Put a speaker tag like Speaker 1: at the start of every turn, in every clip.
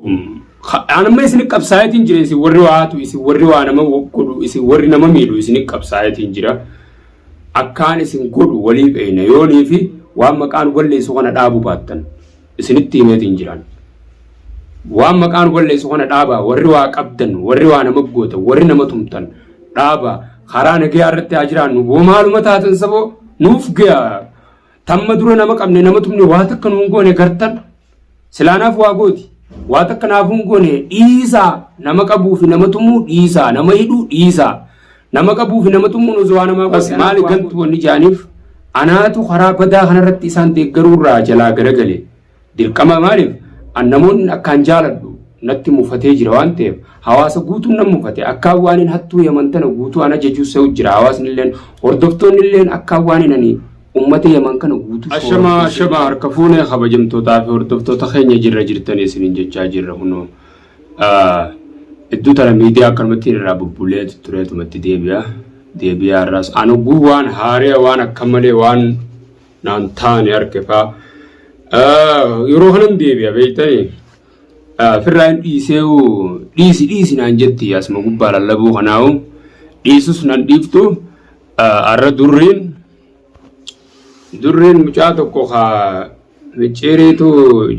Speaker 1: An amma isin qabsaayetiin jira isin warri waa hatu isin warri waa nama godhu isin warri nama miidhu isin qabsaayetiin jira. Akkaan isin godhu walii beeyna yoonii fi waan maqaan balleessu kana dhaabu baattan isinitti himeetiin jiraan. Waan maqaan balleessu kana dhaabaa warri waa qabdan warri waa nama gootan warri nama tumtan dhaabaa karaa nagayaa irratti haa jiraannu boo maaluma taatan saboo nuuf gayaa Tamma dura nama qabne nama tumne waa takka nuun goone gartan silaanaaf waa gooti. Waa takka naaf hin goone dhiisaa nama qabuu fi nama tumuu dhiisaa nama hidhuu dhiisaa nama qabuu fi nama tumuun osoo waa namaa gooti. Maali gantu wanni jaaniif anaatu karaa badaa kanarratti isaan deeggaruurraa jalaa garagale. Dirqama maaliif an namoonni akkaan jaaladhu natti mufatee jira waan ta'eef hawaasa guutuun nan mufate akkaan waanin hattuu yaman tana guutuu an ajajuu se'u jira hawaasnilleen hordoftoonnilleen akkaan waanin ani ummata yaman kana guutuu Ashama ashama harka fuune kabajamtootaa fi hordoftoota keenya jirra jirtanii isiniin jechaa jirra kunoo iddoo tana miidiyaa akkanumatti irraa bubbulee tureetumatti deebi'a deebi'aa irraas an oguu waan haari'a waan akka malee waan naan taane harke faa yeroo kanan deebi'a beektani firraa hin dhiisee dhiisi dhiisi naan jetti asuma gubbaa lallabuu kanaawu dhiisus nan dhiiftu arra durriin durriin mucaa tokko kaa micciiriitu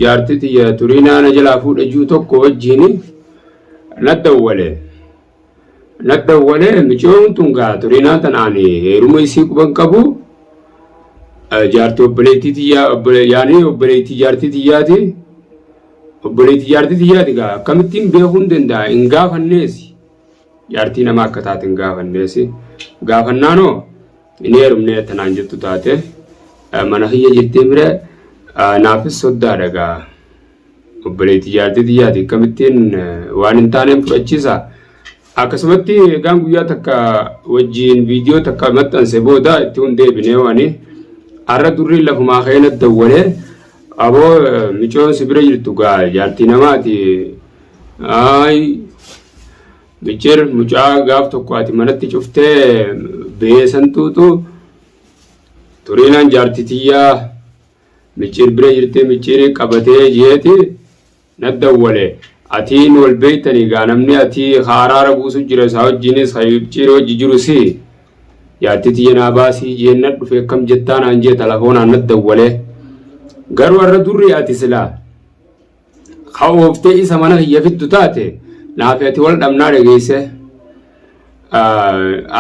Speaker 1: jaartii tiyya turii naana jalaa fuudha juu tokko wajjiin na dawwale. Nadhawwalee micoon tun gaa turinaa tanaan heeruma isii quban qabu jaartii obboleettii tiyyaa yaanii obboleettii jaartii tiyyaati obboleettii jaartii tiyyaati gaa akkamittiin beekuun danda'a hin gaafanneesi jaartii nama akka taate hin gaafanneesi gaafannaanoo hin heerumnee tanaan jettu taate mana kiyya jirtee bira naafis soddaadha gaa. Obboleetti jaartii tiyyaati akkamittiin waan hin taaneen fudhachiisa. Akkasumatti egaan guyyaa takka wajjiin viidiyoo takka maxxanse booda itti hin deebinee waani. Har'a durriin lafumaa keenya dawwalee aboo micoon si bira jirtu gaa jaartii namaati. Ayi michir mucaa gaaf tokko ati manatti cuftee beesan tuutu turiinaan jaartii tiyyaa. micciir bira jirtee micciirii qabatee jeeti na dawwale atiin wal beeytanii gaa namni atii ka araara buusu jira isaa wajjiinis ka micciirii wajji jiru si jaartii tiyya naa baasii jeenna dhufe akkam jettaa naan jee talafoonaan na dawwale garuu har'a durri ati silaa ka ooftee isa mana kiyya fiddu taate naafi ati wal dhabnaa dhageesse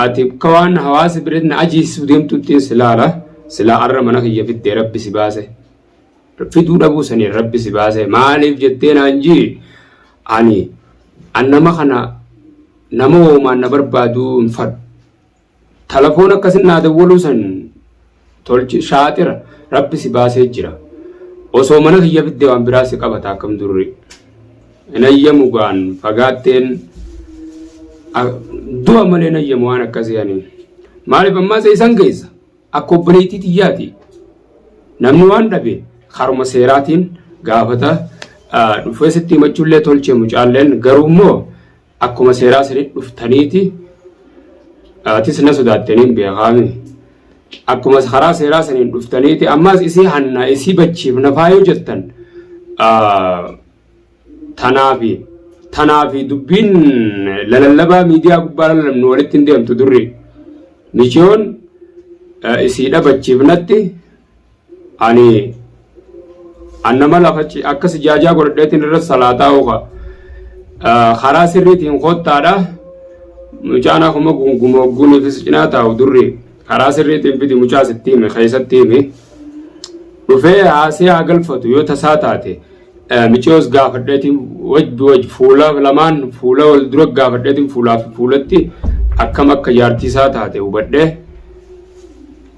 Speaker 1: ati ka waan hawaasa biratti na ajeessu deemtuttiin silaala silaa arra mana kiyya fiddee rabbi si baase fiduu dhabuu saniin rabbi si baase maaliif jettee naan jii ani an nama kana nama woomaan na barbaaduu hin fadhu Talafoon akkasin naa dawwaluu san tolchi shaaxira rabbi si baasee jira osoo mana kiyya fidde waan biraa si qabata akkam durri hin ayyamu gaan fagaatteen du'a malee hin ayyamu waan akkasii ani maaliif ammaa seesan keessa akka obboleettii tiyyaati namni waan dhabe haruma seeraatiin gaafata dhufee sitti himachuullee tolche mucaalleen garuu immoo Akkuma seeraa sanitti dhuftaniiti atis na sodaattaniin beekaami. Akkuma karaa seeraa saniin dhuftaniiti ammaas isii hannaa isii bachiifna faayoo jettan tanaafi tanaafi dubbiin lalallabaa miidiyaa gubbaa lalalabnu walitti hin deemtu durri. Michiyoon isii dhabachiifnatti ani an nama lafachi akka sijaajaa godhadheetiin irra salaataa oofa karaa sirriitiin kottaadha mucaan akkuma gunguma ogguuniifis cinaa taa'u durri karaa sirriitiin fidi mucaa sitti hime keessatti hime dhufee haasee haa galfatu yoo tasaa taate micoos gaafadheetiin wajji wajji fuula lamaan fuula wal dura gaafadheetiin fuulaa fi fuulatti akkam akka jaartiisaa taate hubadhee.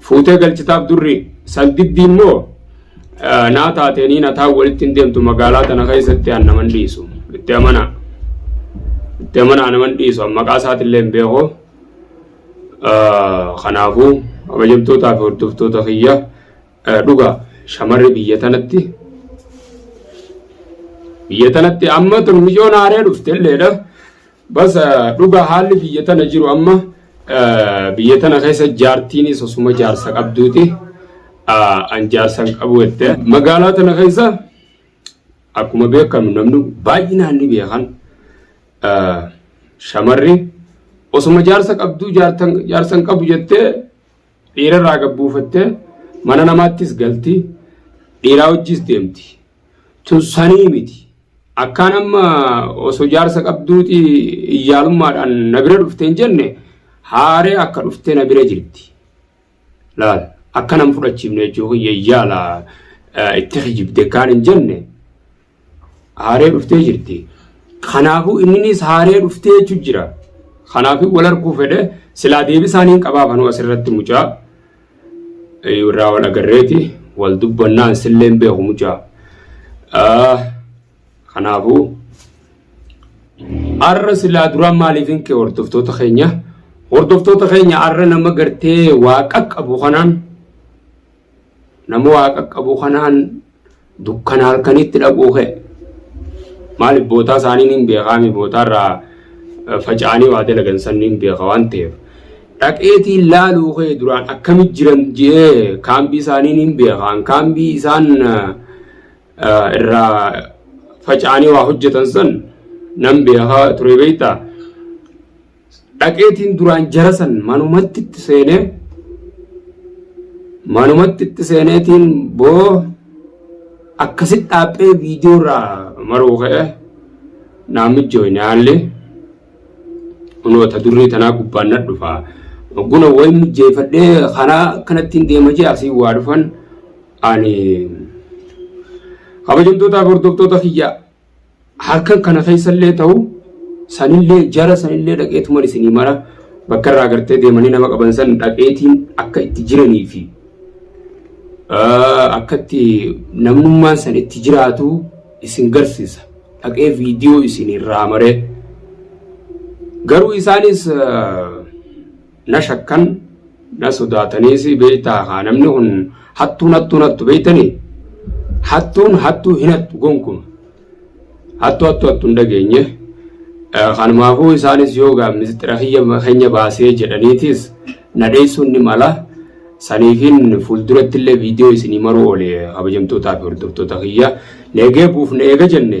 Speaker 1: Fuutee galchitaaf durri saldiddiin moo naa taateenii nataa walitti hin deemtu magaalaa tana keessatti an naman dhiisu itti amanaa itti amanaa naman dhiisu an maqaa isaatillee hin beeku kanaafuu kabajamtootaa fi hordoftoota kiyya dhugaa shamarri biyya tanatti biyya tanatti amma tun mijoon haaree dhufte illeedha. Bas dhuga haalli biyya tana jiru amma biyya tana keessa jaartiinis osuma jaarsa qabduuti an jaarsa hin qabu jette. Magaalaa tana keessa akkuma beekamu namni baay'inaan ni beekan shamarri osuma jaarsa qabduu jaarsa hin qabu jettee dhiirarraa gabbuufattee mana namaattis galti dhiiraa wajjis deemti. tun sanii miti. Akkaan amma osoo jaarsa qabduuti iyyaalummaadhaan na bira dhufte hin jenne haaree akka dhufte na bira jirti. Laal akka nan fudhachiifne jechuun kiyya iyyaala itti kijibde kaan hin jenne haaree dhuftee jirti. Kanaafuu inninis haaree dhuftee jechuun jira. Kanaafuu wal arguu fedhe silaa deebisaaniin qabaafanuu asirratti mucaa. irraa wal agarreeti wal dubbannaan sillee hin beeku mucaa. Kanaafuu har'a silaa duraa maaliif hin kee hordoftoota keenya hordoftoota keenya har'a nama gartee waa qaqqabu kanaan nama waa qaqqabu kanaan Dukkana halkaniitti dhaquu kee. Maaliif bootaa isaanii niin beekaa mi bootaarraa faca'anii waa dalagan san niin beeka waan ta'eef. Dhaqeetii laaluu kee duraan akkamit jiran je'ee kaambii isaanii niin beekaan kaambii isaan irraa faca'anii waa hojjetan san nan beekaa ture beektaa. dhaqeetiin duraan jara san manumatti itti seenee manumatti itti seeneetiin boo akkasitti dhaaphee viidiyoo irraa maruu ka'e naan mijjooyne haalli kunoota durrii tanaa gubbaan na dhufa guna wayi mijjeeffadhee kanaa kanattiin deema jee asii waa dhufan ani kabajamtootaa hordoftoota kiyya halkan kana keessallee ta'u sanillee jara sanillee dhaqeetuman isinii mara bakka irraa agartee deemanii nama qaban san dhaqeetiin akka itti jiranii fi akka itti namnummaan san itti jiraatu isin garsiisa dhaqee viidiyoo isinirraa maree garuu isaanis na shakkan na sodaataniis beektaa haa namni kun hattuun hattuun hattu beektanii hattuun hattuu hin hattu gonkuma hattu hattu hattu hin dhageenye kanumaafuu isaanis yoo gaa misxira keenya baasee jedhaniitis na dheessuun ni mala saniifin fuulduratti illee viidiyoo isinii maruu oole kabajamtootaa fi hordoftoota kiyya neegee buufne eega jenne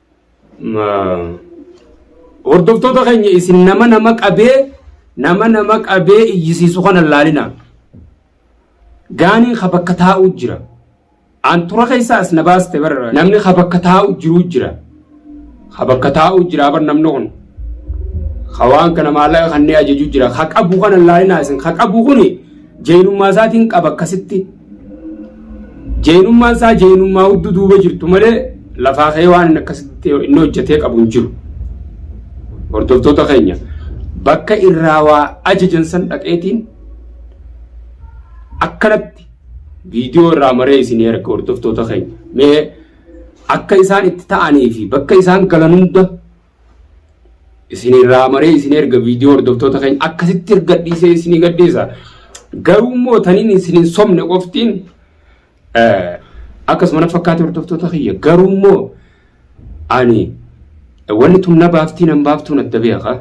Speaker 1: Hordoftoota keenya isin nama nama qabee nama nama qabee iyyisiisu kana laalina. Gaaniin ka bakka taa'u jira. An tura keessa as na baaste bara namni ka bakka taa'u jiru jira. Ka bakka taa'u jira bar namni kun. Ka waan kana maallaqa kanneen ajaju jira. Ka qabu kana laalina isin. Ka qabu kuni jeenummaa isaatiin qaba akkasitti. Jeenummaan isaa jeenummaa hudduu duuba jirtu malee lafaa ka'ee waan inni akkasitti inni hojjetee qabu hin jiru. Hordoftoota keenya bakka irraa waa ajajan san dhaqeetiin akkanatti viidiyoo irraa maree isin erga hordoftoota keenya mee akka isaan itti ta'anii fi bakka isaan galan hunda isin irraa maree isin erga viidiyoo hordoftoota keenya akkasitti gadhiisee isinii gadhiisa. Garuu immoo taniin isin hin somne qoftiin akkasuma na fakkaate hordoftoota kiyya garuu immoo ani wanni tun na baaftii nan baaftuu na dabeeka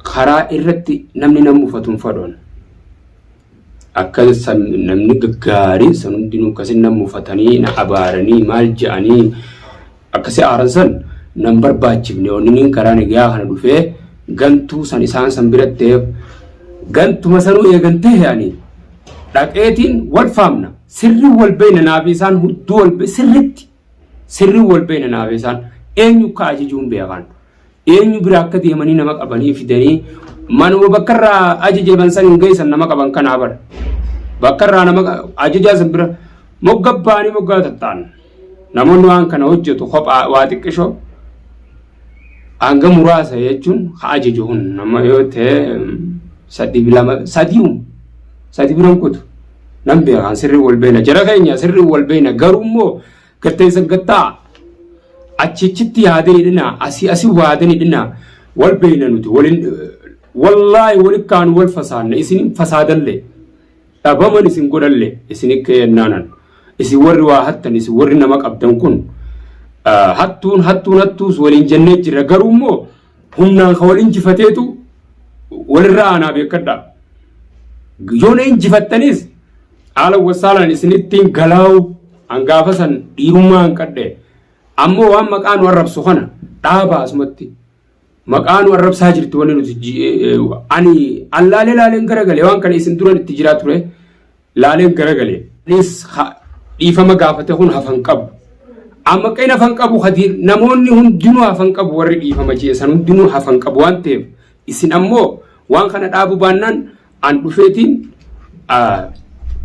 Speaker 1: karaa irratti namni nan mufatu hin fadhoon. Akka san namni gaggaariin san hundinuu akkasin na mufatanii na abaaranii maal ja'anii akkasi aaran san nan barbaachifne onniniin karaa nagayaa kana dhufee gantuu san isaan san biratteef gantuma sanuu eegan tahe ani dhaqeetiin wal faamna sirri wal beeyna naafi isaan hudduu wal sirritti Sirri wal beena naabeesaan eenyu akka ajajuu hin beekan. Eenyu bira akka deemanii nama qabanii fidanii manuma bakka irraa ajajaman san hin geessan nama qaban kanaa bara. Bakka irraa nama ajajaa san bira mogga baanii moggaa tatta'an. Namoonni waan kana hojjetu kophaa waa xiqqishoo Hanga muraasa jechuun ka ajaja hun nama yoo ta'e sadi lama sadiu sadi biran kutu nan beekan sirri wal beena jara keenya sirri wal beena garuu immoo gatteessa gattaa achichitti yaadani dhina asii asii waadani dhina wal beena nuti walin wallaahi wal kaanu wal fasaanne isin fasaadalle dhabaman isin godhalle isin keennanan isin warri waa hattan isin warri nama qabdan kun hattuun hattuun hattuus waliin jennee jirra garuu immoo humnaan ka wal injifateetu walirra aanaa beekadha yoona injifattanis haala wasaalaan isinittiin galaa'u hangaafa san dhiirummaa hanqadhe ammoo waan maqaa nu arrabsu kana dhaaba asumatti Maqaa nu arrabsaa jirtu wanni nuti ji- eh, eh, ani an laalee laaleen garagale waan kana isin duran itti jiraa ture laaleen garagale. Anis ha- dhiifama gaafate kun hafan qabu. Amma qeen hafan qabu hadi namoonni hundinuu hafan qabu warri dhiifama jeesan hundinuu hafan qabu waan ta'eef isin ammoo waan kana dhaabu baannaan An dhufeetiin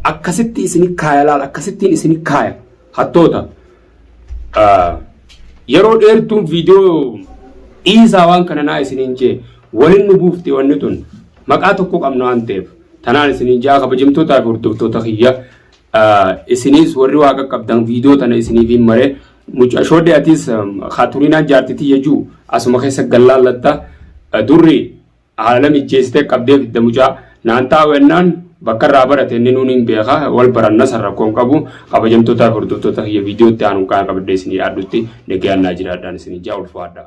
Speaker 1: akkasitti isini kaaya laal akkasittiin isini kaaya hattoota yeroo dheertuun viidiyoo dhiisaa waan kana naa isiniin jee waliin nu buufte wanni tun maqaa tokko qabna waan ta'eef tanaan isiniin jaa kabajamtootaa fi hordoftoota kiyya isiniis warri waa qaqqabdan viidiyoo tana isiniif hin maree mucaa shoodde atiis kaaturiinaan jaartitii jechuu asuma keessa gallaallatta durri Haala mijjeessitee qabdee fidda mucaa. Naan taa'u ennaan bakka irraa barate inni nuun hin beeka wal baranna san rakkoon qabu kabajamtootaa fi hordoftoota kiyya viidiyootti aanuun kaan qabadhee isinii dhiyaadhutti nagayaan naa jiraadhaan isinii jaa ulfaadhaa.